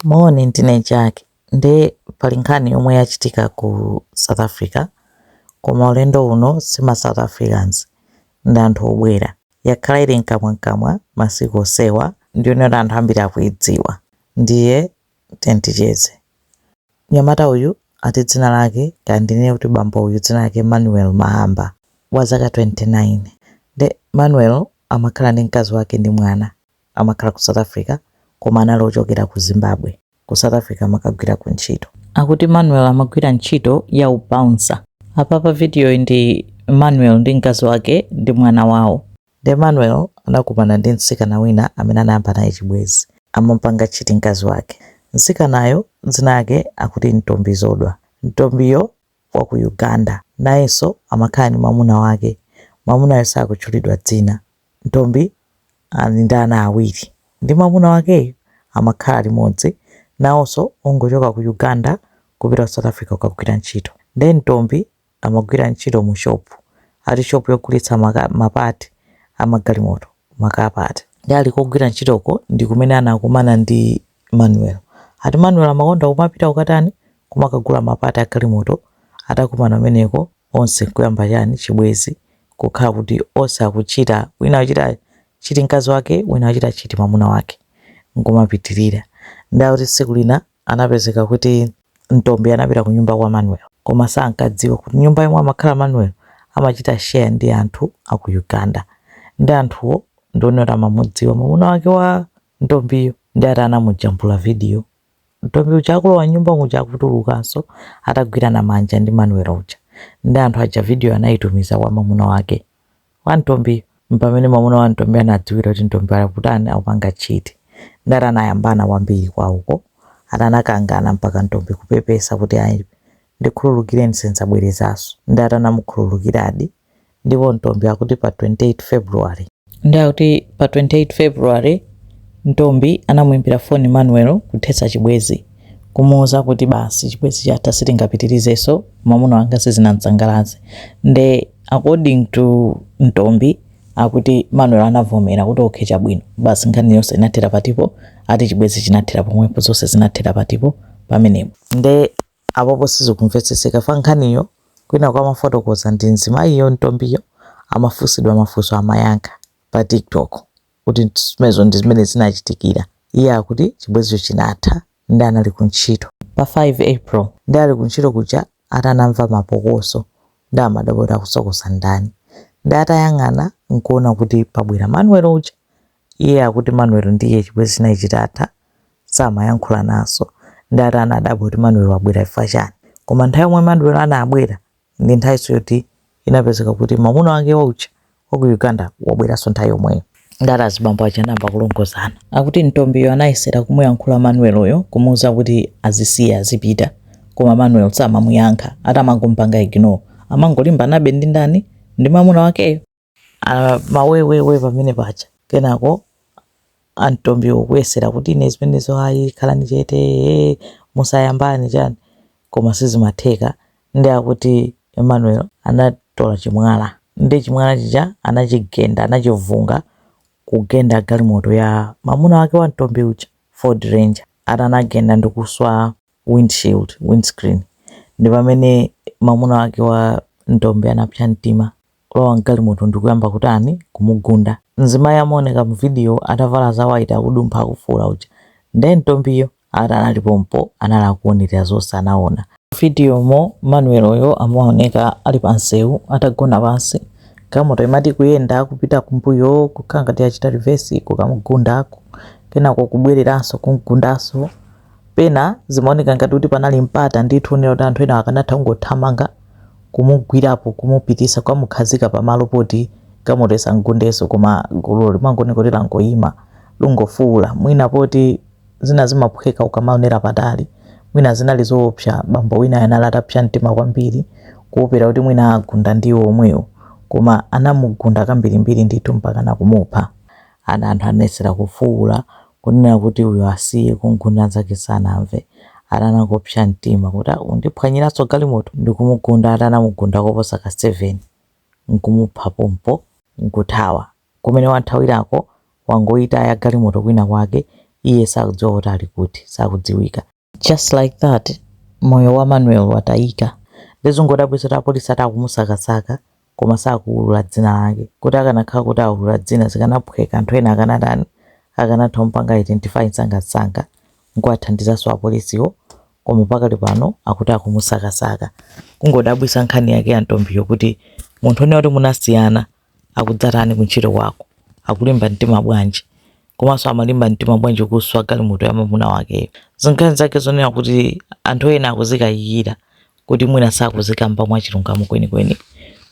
Moni ndine Jack nde pali nkhani yomwe yachitika ku South Africa koma ulendo uno si ma South Africans ndi anthu obwera. Yakhala ili mkamwamkamwa masiku onsewa ndiyonena kuti anthu ambiri akuidziwa ndiye tiyeni ticheze. Mnyamata uyu ati dzina lake kaya ndinene kuti bambo uyu dzina lake Manuel Mahamba wa zaka 29 nde Manuel amakhala ndi mkazi wake ndi mwana. amakhala ku south africa koma anali ochokera ku zimbabwe. ku south africa amakagwira kuntchito. Akuti Manuel amagwira ntchito ya u bouncer. Apa pa vidiyoyi ndi Manuel ndi mkazi wake ndi mwana wawo. Nde Manuel anakumana ndi mtsikana wina amene anayamba naye chibwenzi. Amamupanga cheat mkazi wake. Mtsikanayo dzina lake akuti Ntombizodwa. Ntombiyo wa ku Uganda. Nayenso amakhala ndi mwamuna wake. Mwamunayo sakutchulidwa dzina. Ntombi ali ndi ana awiri ndi mwamuna wakeyu. Amakhala limodzi nawonso ongochoka ku Uganda kupita ku South Africa kukagwira ntchito. Ndiye Ntombi amagwira ntchito mu shopu, ati shopu yogulitsa ma part a magalimoto, ma car part. Ndiye ali kogwira ntchitoko ndi kumene anakumana ndi Manuel. Ati Manuel amakonda kumapita kukatani? Kumakagula ma part a galimoto. Atakumana kumeneko, onse nkuyamba chani, chibwenzi. Kukhala kuti onse akuchita, wina akuchita chiti mkazi wake, wina akuchita chiti mamuna wake. Nkumapitirira. Ndiye akuti tsiku lina anapezeka kuti Ntombi anapita kunyumba kwa Manuel. Koma sankadziwa kuti nyumba yomwe amakhala Manuel amachita share ndi anthu a ku Uganda. Ndiye anthuwo ndi onena kuti amamudziwa mamuna wake wa. Ntombiyo nde ati anamujambula video Ntombi uja akulowa m'nyumba muja akutulukanso atagwirana manja ndi Manuel uja nde anthu aja video anayitumiza kwa mamuna wake wa Ntombiyu mpamene mamuna wa Ntombi anadziwira kuti Ntombi akutani akupanga cheat nde ati anayambana kwambiri kwauko ati anakangana mpaka Ntombi kupepesa kuti ayi ndikhululukireni sindzabwerezanso nde ati anamukhululukiradi ndipo Ntombi akuti pa 28 February. Ndiye akuti pa 28 February Ntombi anamuimbira foni Manuel kuthetsa chibwezi kumuuza kuti basi chibwezi chatha sitingapitirizenso mwamuna wanga sizinamsangalatse nde according to Ntombi akuti Manuel anavomera kuti okay chabwino basi nkhani yonse inathera patipo ati chibwezi chinathera pomwepo zonse zinathera patipo pamenepo nde Apopo sizikumvetsetseka fa nkhaniyo kwinaku imafotokozedwa ndi mzimayiyo Ntombiyo amafunsidwa mafunso amayankha pa tiktok kuti zimenezo ndi zimene zinachitikira iye akuti chibwezicho chinatha nde anali ku ntchito pa 5 april nde ali ku ntchito kuja ati anamva mapokoso nde amadabwa kuti akusokosa ndani nde atayang'ana nkuona kuti pabwera manuel uja Iye akuti Manuel ndi iye chibwezi chinali chitatha samayankhulananso ndi ati anadabwa kuti Manuel wabwera chifukwa chani. Koma nthawi yomwe Manuel anabwera ndi nthawinso yoti inapezeka kuti mamuna wake wauja wa ku Uganda wabweranso nthawi yomweyo. Ndi ati azibambo aja anayamba kulongozana. Akuti Ntombiyo anayesera kumuyankhula Manuel yo kumuuza kuti azisiye azipita koma Manuel samamuyankha ati amangompanga ignore amangolimbanabe ndi ndani ndi mamuna wakeyo. Aaah mawewewe pamene paja kenako antombiwo kuyesera kuti ine zimenezo ayi khalani chete ee musayambani chani koma sizimatheka nde akuti Manuel anatola chimwala nde chimwala chija anachigenda anachivunga kugenda galimoto ya mamuna wake wa ntombi uja ford ranger ati anagenda ndikuswa wind shield, windscreen, ndipamene mamuna wake wa ntombi anapsa mtima. kulowa m'galimoto ndi kuyamba kutani? Kumugunda. Mzimayi amaoneka muvidiyo atavala za white akudumpha akufuula uja nde Ntombiyo? Ati anali pompo anali akuonera zonse anaona. Muvidiyomo Manuel yo amaoneka ali pa msewu atagona pansi galimoto imati kuyenda kupita kumbuyo kukhala ngati yachita reverse kukamugunda kenako kubwereranso kumgundanso. Pena zimaoneka ngati kuti panali mpata ndithu wonena kuti anthu enawo akanatha kungothamanga kumugwirapo kumupitisa kukamukhazika pamalo poti galimoto isamugundenso koma gululo limangoneka kuti langoima lungofuula mwina poti zina zimaphweka ukamaonera patali mwina zinali zoopsa bambo winayo anali atapsa mtima kwambiri kuopera kuti mwina agunda ndi iwo omwewo koma anamugunda kambirimbiri ndithu mpakana kumupha ana anthu anayesera kufuula Kunena kuti uyo asiye kumgunda nzake sanamve ati anangopsa mtima kuti ah undiphwanyiranso galimoto ndikumugunda ati anamugunda koposa ka 7 nkumupha pompo nkuthawa. Kumene wathawirako wangoitaya galimoto kwina kwake iye sakudziwa kuti ali kuti, sakudziwika. just like that moyo wa manuel watayika ndizongodabwitsa kuti apolisi ati akumusakasaka koma sakuwulula dzina lake kuti akanakhala kuti awulula dzina zikanaphweka anthu ena akanatani akanatha kumpanga identify msangamsanga nkuwathandizanso apolisiwo koma pakali pano akuti akumusakasaka kungodabwitsa nkhani yake ya Ntombiyo kuti munthu unena kuti munasiyana akudzatani kuntchito kwako? Akulimba mtima bwanji? Komanso amalimba mtima bwanji kuswa galimoto ya mamuna wakeyo? Zinkhani zake zonena kuti anthu ena akuzikayikira kuti mwina sakuzikamba mwachilungamo kwenikweni,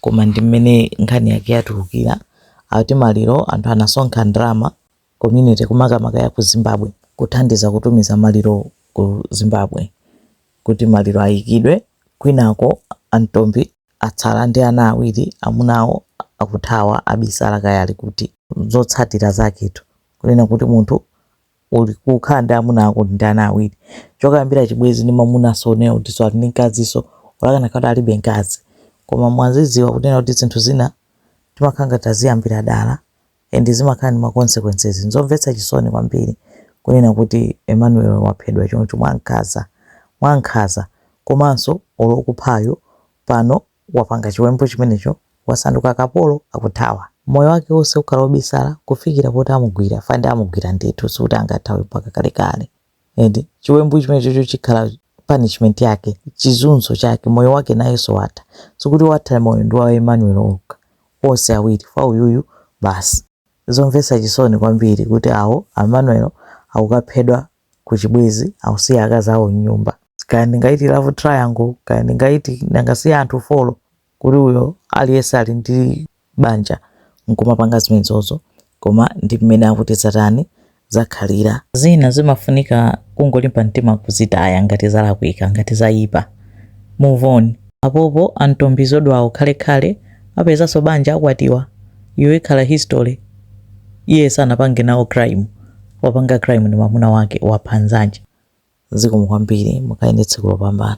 koma ndi mmene nkhani yake yatulukira. Akuti maliro anthu anasonkha ndalama. community ku makamaka ya ku Zimbabwe kuthandiza kutumiza maliro ku Zimbabwe kuti maliro ayikidwe kwinaku a Ntombi atsala ndi ana awiri amuna awo akuthawa abisala kaya ali kuti zotsatira zaketu kunena kuti munthu uli kukhala ndi amuna ako ndi ana awiri chokayambira chibwezi ndi mamuna sonena kuti so ali ndi mkazinso olakana kuti alibe mkazi koma mwazidziwa kunena kuti zinthu zina timakhala ngati taziyambira dala and zimakhala ndi ma consequences. Nzomvetsa chisoni kwambiri kunena kuti Emmanuel waphedwa choncho mwankhaza mwankhaza komanso olo okuphayo pano wapanga chiwembu chimenecho wasanduka kapolo akuthawa. Moyo wake wonse ukhala obisala kufikira poti amugwira, fa ndi amugwira ndithu sikuti angathawe mpaka kalekale. and chiwembu chimenechocho chikhala punishment yake chizunzo chake moyo wake nayenso watha sikuti watha moyo ndi wa emmanuel okha onse awiri fa uyuyu basi zomvetsa chisoni kwambiri kuti awo emmanuel akukaphedwa ku chibwezi akusiya akazi awo mnyumba kaya ndingaiti love triangle kaya ndingaiti nanga si anthu folo kuti uyo aliyense ali ndi banja nkumapanga zimenezozo koma ndi mmene akuti zatani zakhalira zina zimafunika kungolimba mtima kuzitaya ngati zalakwika ngati zayipa move on apopo a Ntombizodwawo khalekhale apezanso banja akwatiwa iyo ikhala history iye sanapange nawo crime wapanga crime ndi mwamuna wake wapha nzanje zikomo kwambiri mukhale ndi tsiku lopambana